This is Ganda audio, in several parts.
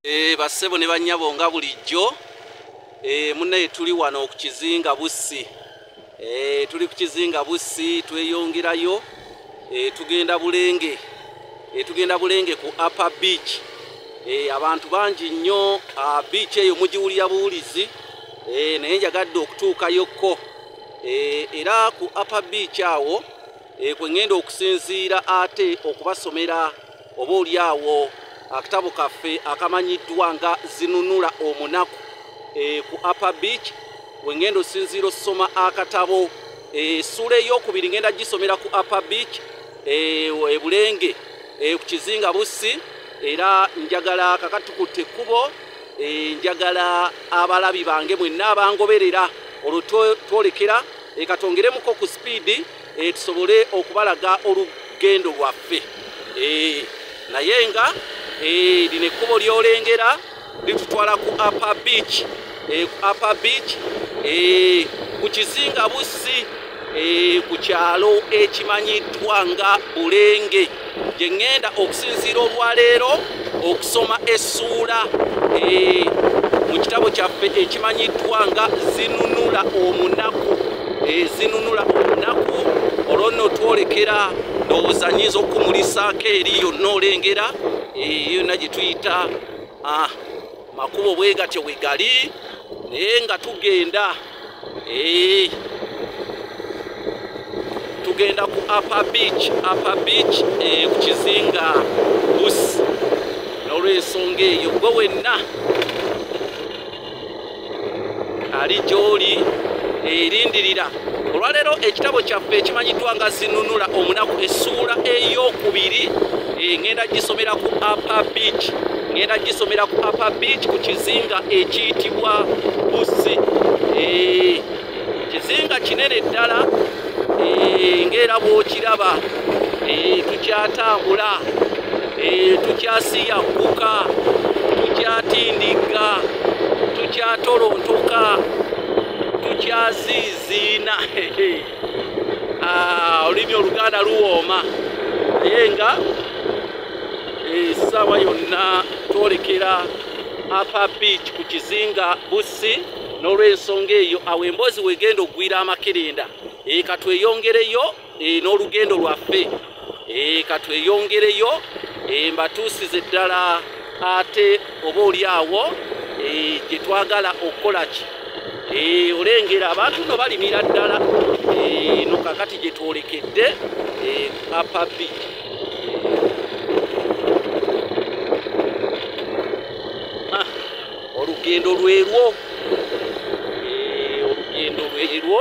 Eh, bassebo ne bannyabo nga bulijjo eh, munaye tuli wano ku kizinga bussi eh, tuli ku kizinga bussi tweyongerayo tugenda bulenge tugenda bulenge ku upper beach abantu bangi nnyo ah, beach eyo mugiwulira buwulizi naye njagadde okutuukayokko era ku upper beach awo kwe ŋŋenda okusinziira ate okubasomera oba oli awo akatabo kaffe akamanyiddwa nga zinunula omunaku e, ku upper beach wengenda osinziira osoma akatabo esuula eh, eyokubiri ngenda gisomera ku upper beach ebulenge eh, ku kizinga bussi era njagala kakatukutte ekkubo njagala abalabi bange mwenna abangoberera olwo twolekera ekatwongeremuko ku sipiidi eh, tusobole okubalaga olugendo lwaffe eh, naye nga eh, lino ekkubo lyolengera litutwala ku upper beach ku upper beach ku kizinga bussi ku kyalo ekimanyiddwa nga bulenge gye ŋŋenda okusinziira olwaleero okusoma essuula eh, mu kitabo kyaffe ekimanyiddwa nga zinunula omunaku eh, zinunula omunaku olwo nno twolekera ndowooza nyinza okukumulisaako eri yonna olengera eh, yonna gye tuyita ah, makubo bwe gatyo bwe gali naye nga tugenda ee eh. tugenda ku upper beach upper beach ee eh, ku kizinga bus n'olwensonga eyo gwe wenna ali gy'oli erindirira eh, olwaleero ekitabo kyaffe ekimanyiddwa nga zinunula omunaku essuula ey'okubiri eh, ngenda gisomera ku upper beach ngenda gisomera ku upper beach ku kizinga ekiyitibwa busi eh, kizinga kinene ddala eh, ngaera bwokiraba tukyatambula tukyasiyagguka tukyatindigga tukyatolontoka tukyaziiziina ah, olulimi oluganda luwooma naye nga esaawa eh, yonna twolekera apa beach ku kizinga bussi n'olwensonga eyo awo emboozi wegenda okugwira amakerenda eka tweyongereyo e, n'olugendo lwaffe e, katweyongereyo e, mbatuusize ddala ate oba oli awo e, gye twagala okukola ki e, olengera abantu no balimira ddala e, no kakati gye twolekedde e, apabi ah, olugendo lwerwo e, olugendo lwerwo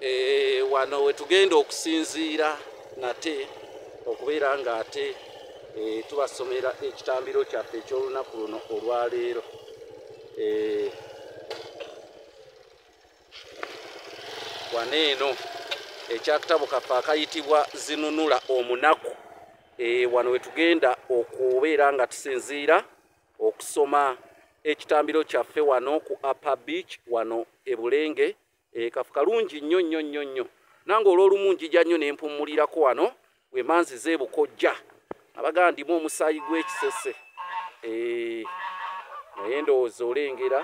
eh, wano wetugenda okusinziira nate okubeera nga ate eh, tubasomera ekitambiro kyaffe ekyolunaku luno olwaleero eh, wano eno ekyakitabo kaffe akayitibwa zinunula omunaku wano wetugenda okubeera nga tusinziira okusoma ekitambiro kyaffe wano ku upper beach wano ebulenge ekafu kalungi nnyo nnyo nnyo nnyo nange olwolumu njija nnyo nempumulirako wano wemanziza ebukojja abagala ndimu omusaayi gwekisese eh, naye ndowooza olengera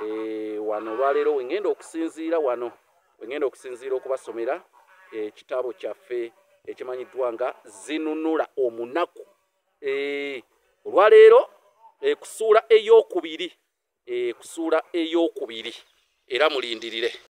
eh, wano olwaleero wengenda okusinziira wano wengenda okusinziira okubasomera ekitabo eh, kyaffe ekimanyiddwa nga zinunula omunaku eh, olwaleero eh, kusuula eyokubiri eh, kusuula eyokubiri era mulindirire